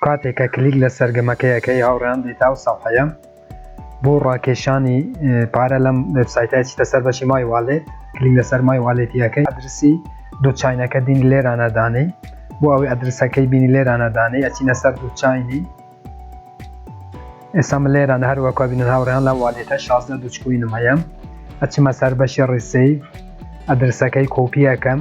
کاتێک کە کلیک لە سەرگەمەکەی ئەکەی هاوڕێیان دێتە ئەو سەفحەیە بۆ ڕاکێشانی پارە لەم وێبسایتە ئەچیتە سەر بەشی مای والێت کلیک لەسەر مای والێتی ئەکەی ئەدرسی دوو چاینەکە دینی لێرانە دانێی بۆ ئەوەی ئەدرسەکەی بینی لێرانە دانێی ئەچینە سەر دوو چاینی ئێستا من لێرانە هەر وەکو بینن هاوڕێیان لە والێتە 16 دوچکوینم هەیە ئەچمە سەر بەشی ڕیسەی ئەدرسەکەی کۆپیەکەم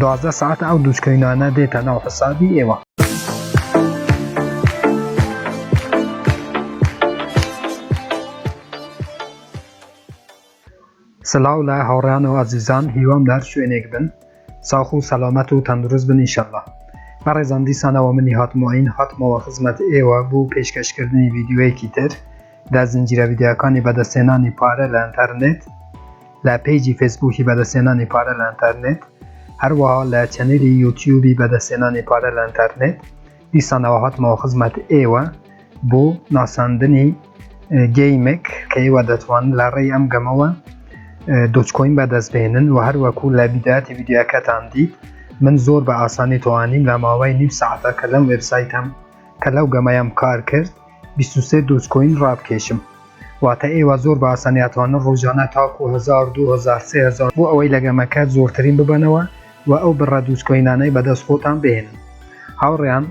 دوازدە ساعت ئەو دوچکەینانە دێتە ناو حسابی ئێوە سلااو لە هاوڕیان و ئازیزان هیوام لەر شوێنێک بن ساخ و سەلامەت و تەندروست بن ئیشەڵە بەڕێزان دیسانەوە منی هاتمۆین هاتمەوە خزمەت ئێوە بوو پێشکەشکردنی ڤیددیوەیەکی تر لە زنجیرە ڤیدیۆکانی بەدەستهێنانی پارە لە ئەنتەرنێت، لە پەیجی فەیسبووکی بەدەستهێنانی پارە لە ئەنتەرنێت، هەروەها لە چەنێلی یوتیوبی بەدەستهێنانی پارە لە ئەنتەرنێت، دیسان ئەوە هاتمەوە خزمەت ئێوە بۆ ناساندنی گەیمێک کە ئێوە دەتوانن لە ڕێی ئەم گەمەوە دۆچکۆین بەدەست بێنن و هەروەکو لە بیداتی ڤیدیۆکەتان دیت من زۆر بە ئاسانی توانیم لە ماوەی نیو ساعتە کە لەم وێبسایتەم کە لەو گەمەیەم کار کرد بیست و سێ دۆجکۆین ڕابکێشم واتە ئێوە زۆر بە ئاسانی ئەتوانن ڕۆژانە تاکو هەزار دوو هەزار سێ هەزار بۆ ئەوەی لە گەمەکە زۆرترین ببەنەوە و ئەو بڕە دۆجکۆینانەی بەدەست خۆتان بهێنن هاوڕێیان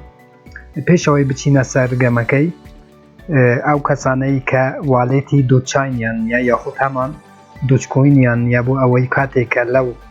پێشەوەی بچینە سەر گەمەکەی ئەو کەسانەی کە والێتی دۆچینیان یا یاخود هەمان دۆچکۆینیان یا بۆ ئەوەی کاتێکە لەو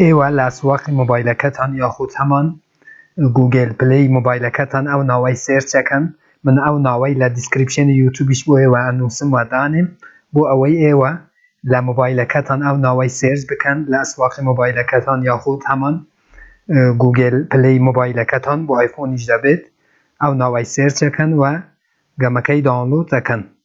ئێوە لە ئەسواقی مۆبایلەکەتان یاخود هەمان گووگێل پلەی مۆبایلەکەتان ئەو ناوەی سێرچ ئەکەن من ئەو ناوەی لە دیسکریپشێنی یوتوبیش بۆ ئێوە ئەنووسم و دانێم بۆ ئەوەی ئێوە لە مۆبایلەکەتان ئەو ناوەی سێرچ بکەن لە ئەسواقی مۆبایلەکەتان یاخود هەمان گووگێل پلەی مۆبایلەکەتان بۆ ئایفۆنیش دەبێت ئەو ناوەی سێرچ ئەکەن و گەمەکەی داونلۆد ئەکەن.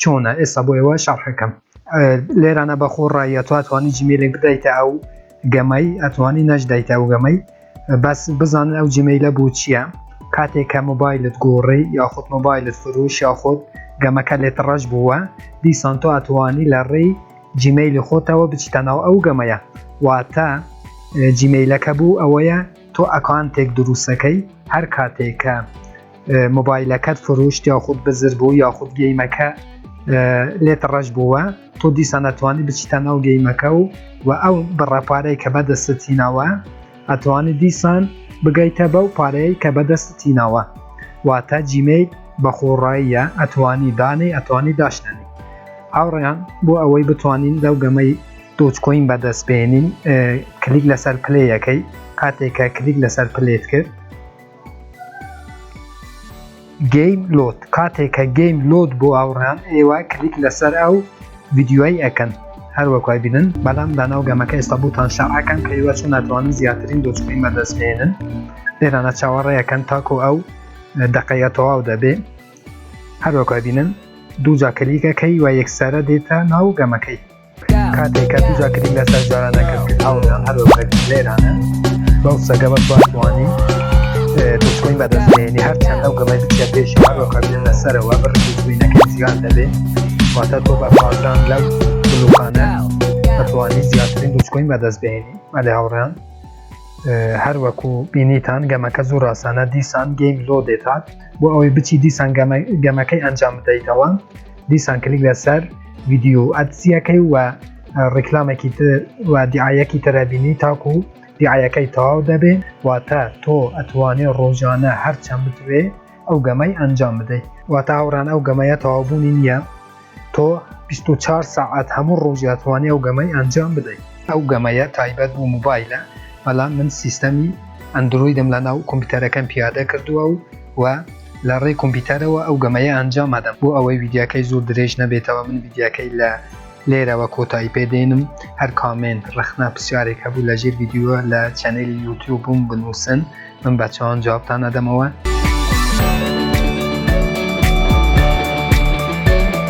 چۆنە ئێستا بۆ ئێوە شەڕحەکەم لێرانە بەخۆ ڕایە تو توانی جیمێلێک بدایتە ئەو گەمەی ئەتوانی نەشدایتە ئەو گەمەی بەس بزانن ئەو جیمەیلە بوو چییە کاتێک کە مۆبایلت گۆڕی یاخود مۆبایلت فروش یاخود گەمەکە لێت ڕەش بووە دیسان تۆ ئەتوانی لە ڕێی جیمەیلی خۆتەوە بچیتە ناو ئەو گەمەیە واتە جیمەیلەکە بوو ئەوەیە تۆ ئەکانتێک دروستەکەی هەر کاتێکە مۆبایلەکەت فروشت یاخود بزر بوو یاخود گەیمەکە لێت ڕەش بووە تۆ دیسان ئەتوانی بچیتە ناو گەیمەکە و و ئەو بڕەپارەی کە بەدەستتینەوە ئەتوانی دیسان بگەیتە بەو پارەیە کە بەدەستتینەوە واتە جیمەی بەخۆڕاییە ئەتوانی دانێ ئەتوانی داشتێنی هاوڕێیان بۆ ئەوەی بتوانین لەو گەمەی دۆچکۆین بەدەست بێنین کلیک لەسەر پلەیەکەی کاتێکە کلیک لەسەر پلێت کرد گەیم لۆد کاتێ کە گەیم لۆد بۆ ئاوڕیان ئێوە کلیک لەسەر ئەو ڤیدیۆی ئەکەن هەروەک وای بینن بەڵام داناو گەمەکە ئێستا بوتان شەعەکەن کە ئێوە چۆن ناتوانن زیاترین دۆچکەی مەدەست بێنن لێرانە چاوەڕێەکەن تاکۆ ئەو دقەیە تەواو دەبێ هەروەک وای بینن دوو جا کلیکەکەی و یەکسەرە دێتە ناو گەمەکەی کاتێک کە توجا کردین لە سەر جارانە کرد هەوڵیان هەر لێرانە بەو سەگە بە توانانی دوچکۆین بەدەستێنی هەرچەند ئەو گەڵی بچە پێش هەرۆکەبیێن لەسەرەوە بڕبووینەکە زیان دەبێت واتە تۆ بە پازان لەو بلوقانە ئەتوانی زیاترین دوچکۆین بەدەست بێنی مەلێ هاوڕیان هەر وەکو بینیتان گەمەکە زۆر ڕاستانە دیسان گەیم لۆ دێتات بۆ ئەوەی بچی دیسان گەمەکەی ئەنجام بدەیتەوە دیسان کلیک لەسەر ویددیو ئەتسیەکەی و ڕیکلامێکی و دیعاەکی تەرەبینی تاکو و دیعاەکەی تەواو دەبێ واتە تۆ ئەتوانێ ڕۆژانە هەرچەند بتوێ ئەو گەمەی ئەنجام بدەیت واتە هاوڕان ئەو گەمەیە تەواوبوونی نییە تۆ 24 ساعت هەموو ڕۆژاتوانێ ئەو گەمەی ئەنجام بدەیت ئەو گەمەیە تایبەت بوو موبایلە بەڵام من سیستەمی ئەندرویدم لە ناو کۆمپیوتەرەکەم پیادە کردووە و و لە ڕێی کۆمپیتەرەوە ئەو گەمەیە ئەنجام ئەدەم بۆ ئەوەی ڤیدیاکەی زۆر درێژ نەبێتەوە من ڤیدیاکەی لە لێرەوە کۆتایی پێ دێنم هەر کامێنت ڕەخنە پرسیارێک هەبوو لە ژێر ڤیدیۆ لە چەنێلی یوتیوبم بنووسن من بە چاوان جوابتان ئەدەمەوە.